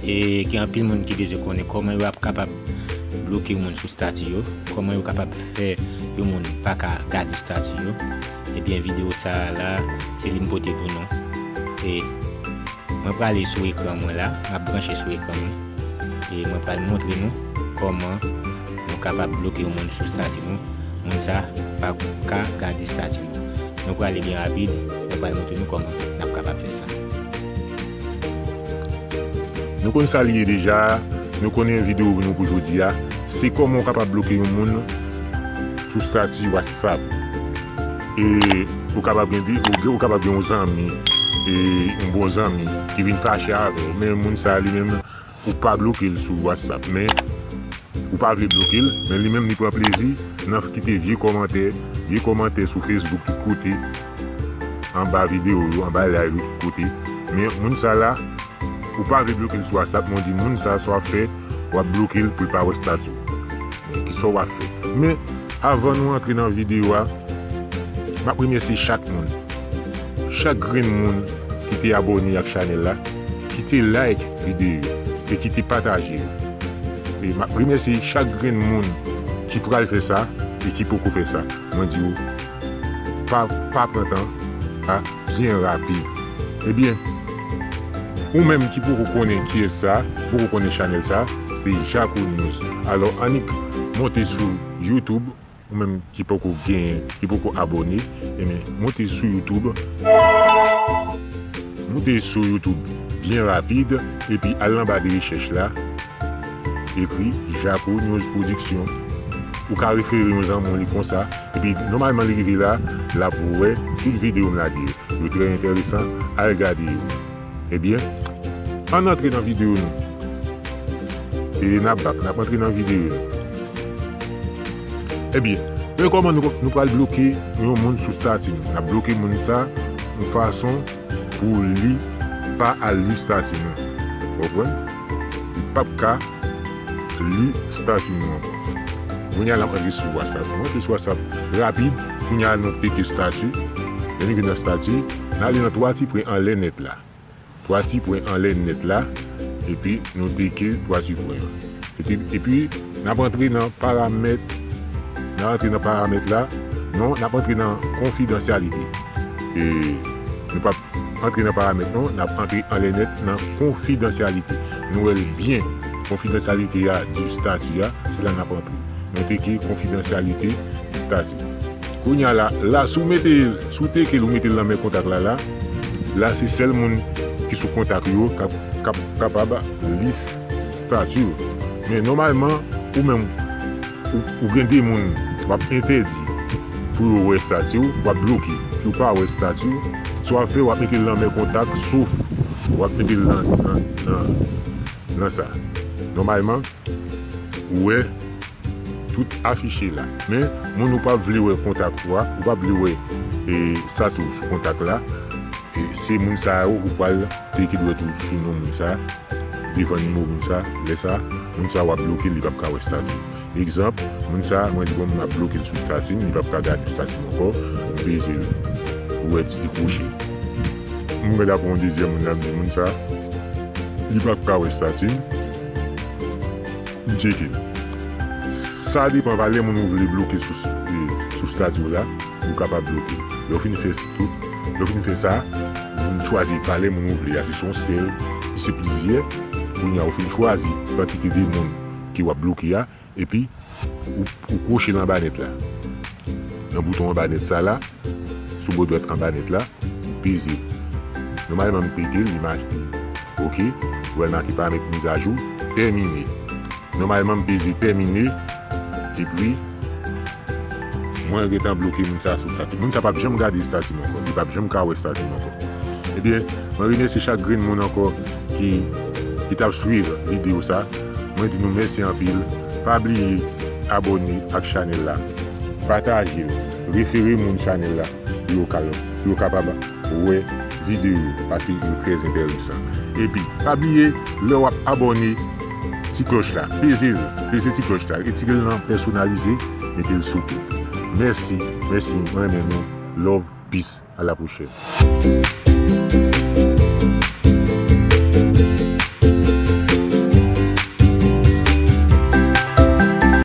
E gen anpil moun ki bezwen konnen kòman yo ap kapab bloke moun sou stati yo, kòman yo kapab fè yon moun pa ka gade stati yo, ebyen videyo sa a la se li m pote pou nou. E mwen prale sou ekran mwen la, m ap branche sou ekran mwen e mwen pral montre nou kòman Nou kapab bloke yon moun sou stati nou, moun sa pa ka gade stati nou. Nou prale byen rapid, mwen pral montre nou kòman nap kapab fè sa. Nou konn sa li ye deja, nou konnen video nou pou jodi a, se kòman ou kapab bloke yon moun sou stati whatsapp. E ou kapab gen de, ou kapab gen yon zanmi, yon bon zanmi ki vin fache avèw men moun sa li menm. Ou pa blokel sou whatsapp men Ou pa vle blokel men li menm li pran plezi nan kite vye kòmantè vye kòmantè sou facebook tout kote anba video yo anba live yo tout kote men moun sa la Ou pa vle blokel sou whatsapp men ou di moun sa sa wap fè wap blokel poul pa wè stati w men kisa w wap fè men avan nou antre nan video a map remèsye chak moun chak grenn moun ki te abòne ak chanèl la. Kite like video yo e kite pataje yo. E map remèsye chak grenn moun ki pral fè sa e ki poko fè sa. Mwen di ou pa pa pran tan a byen rapid. Ebyen ou menm ki poko konnen kiyès sa, ki poko konnen chanèl sa, se Jako News. Alò annik monte sou YouTube. Ou menm ki poko gen, ki poko abone, enben moute sou youtube, moute sou youtube byen rapid epi al nan ba de rechèch la, ekri jako news production, ou ka refere yon zanmi w li konsa, epi nòmalman li rive la, lap wè tout video m lage yo, yo trè entèresan, al gade yo. Ebyen ann antre nan video nou e nap bak nap antre nan video nou ebyen men kòman nou pral bloke yon moun sou stati nou nap bloke moun sa yon fason pou li pa al li stati nou ou konprann li pap ka li stati nou ankò kounya lap antre sou whatsapp nou antre sou whatsapp rapid kounya nou pete stati lè nou vin nan stati. N ale nan twati pwen anlè nèt la. Twati pwen anlè nèt la epi nou teke twati pwen an. Epi epi n ap antre nan paramèt n ap antre nan paramèt la non n ap antre nan konfidansyalite e nou p ap antre nan paramèt non n ap antre anlè nèt nan konfidansyalite nou wè l byen konfidansyalite a di stati a se la n ap antre nou teke konfidansyalite di stati. Kounya la la si w mete si w teke l ou mete l nan men kontak la la la se sèl moun ki sou kontak yo kap kap kapab li stati w men nòmalman ou menm ou gen 2 moun wap entèdi pou yo wè stati w wap bloke pou yo pa wè stati w sa wap fè wap mete l nan men kontak sof wap mete l nan nan nan sa nòmalman ou wè. Tout afiche la. Men, moun ou pa vle wè kontak ou a, ou pa vle wè stat ou sou kontak la, se moun sa yo ou pral klike dwèt ou sou non moun sa, devan nimewo moun sa, lè sa, moun sa wap bloke l li pap ka wè stat ou. Egzanp, moun sa mwen di bon mwen ap bloke l sou stati m, li pap ka gade stati m ankò, m peze l, ou wè ti dekwoche. Mwen gade ankò yon dezyèm moun la, m di moun sa, li pap ka wè stati m. M tcheke l. Sa depan valè moun ou vle bloke sou stati w la, ou kapab bloke l. Lè w fin fè tout, lè w fin fè sa, ou chwazi valè moun ou vle a, si se yon sèl, si se plizyè, kounye a ou fin chwazi kantite de moun ke w ap bloke a, epi ou kwoche l anba nèt la, nan bouton anba nèt sa la. Sou bo dwèt anba nèt la, peze. Nòmalman m pete l, li make. Ok, ou wè l make Paramèt Mizajou tèmine. Nòmalman m peze tèmine, epi mwen gentan bloke moun sa sou estati. Moun sa p ap janm gade estati m ankò. Li p ap janm ka wè estati m ankò. Ebyen, mwen remèsye chak grenn moun ankò ki t ap swiv videyo sa. Mwen di nou mèsi anpil. Pa bliye abòne ak chanèl la. Pataje l. Refere moun chanèl la pou yo ka pou yo kapab wè videyo yo paske yo trè entèresan epi pa bliye lè wap abòne ti klòch la pezel peze ti klòch la retire l nan pèsonalize metel sou tout mèsi mèsi mwen renmen nou love peace a la pwochèn.